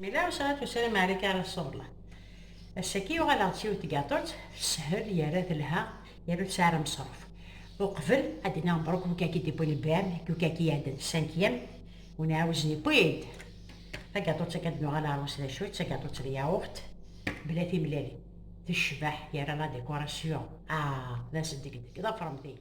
Mi la usɣat usram ɛrika ara ṣṣubla. Ass-agi uɣaleɣ-d s yiwet tgaṭut, teshel yerra telha, yerra tesɛa aramṣruf. Uqbel, ad d-iniɣ mebṛuk i ukkaki d-iwwin lbram, i ukkaki iɛeddan cinquième, ur nɛawez newwi-d tagaṭut akken ad nuɣal ɣer wass d acu-tt, d tagaṭut n yaɣurt bla timellalin, tecbeḥ, yerra la décoration, ah d ass n degdeg, ḍefṛemt-iyi.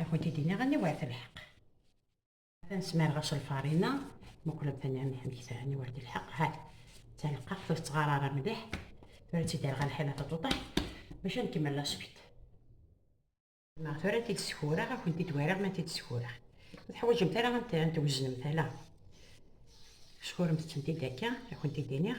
Ad kent-id-iniɣ aniwa ar telḥeq. Atan smareɣ-as lfarina, muqlemt aniɣ amek tara aniwa ar telḥeq. Hat, d talqaɣt ur tettɣar ara mliḥ. Tura ad tt-id-rreɣ ɣer lḥila taṭuṭaḥ bac ad nkemmel laswit. Ma tura ad t-id-skureɣ, ad kent-id-wariɣ ma t-id-skureɣ. Ur teḥwaǧemt ara ad t-tweznemt ala. Skuremt-tent-id akka, ad kent-id-iniɣ.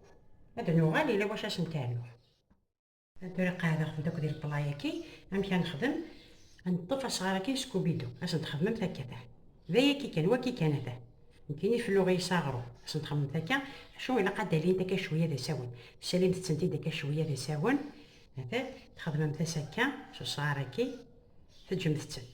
Ad d-nuɣal yella wacu ad sen-ternuḍ. Tura qeɛdeɣ-tent akk di leplayaki, amek ad nexdem? Ad neṭṭef asɣar-aki Scooby-Doo, ad sen-txedmemt akka ata. D ayaki kan, waki kan ata. Nekkini felluɣ-iyi s aɣrum, ad sen-txedmemt akka, acu ilaq ad d-alint akka cwiya d asawen. Salimt-tent-id akka cwiya d asawen, ata, txedmemt-as akka s usɣar-aki, teǧǧemt-tent.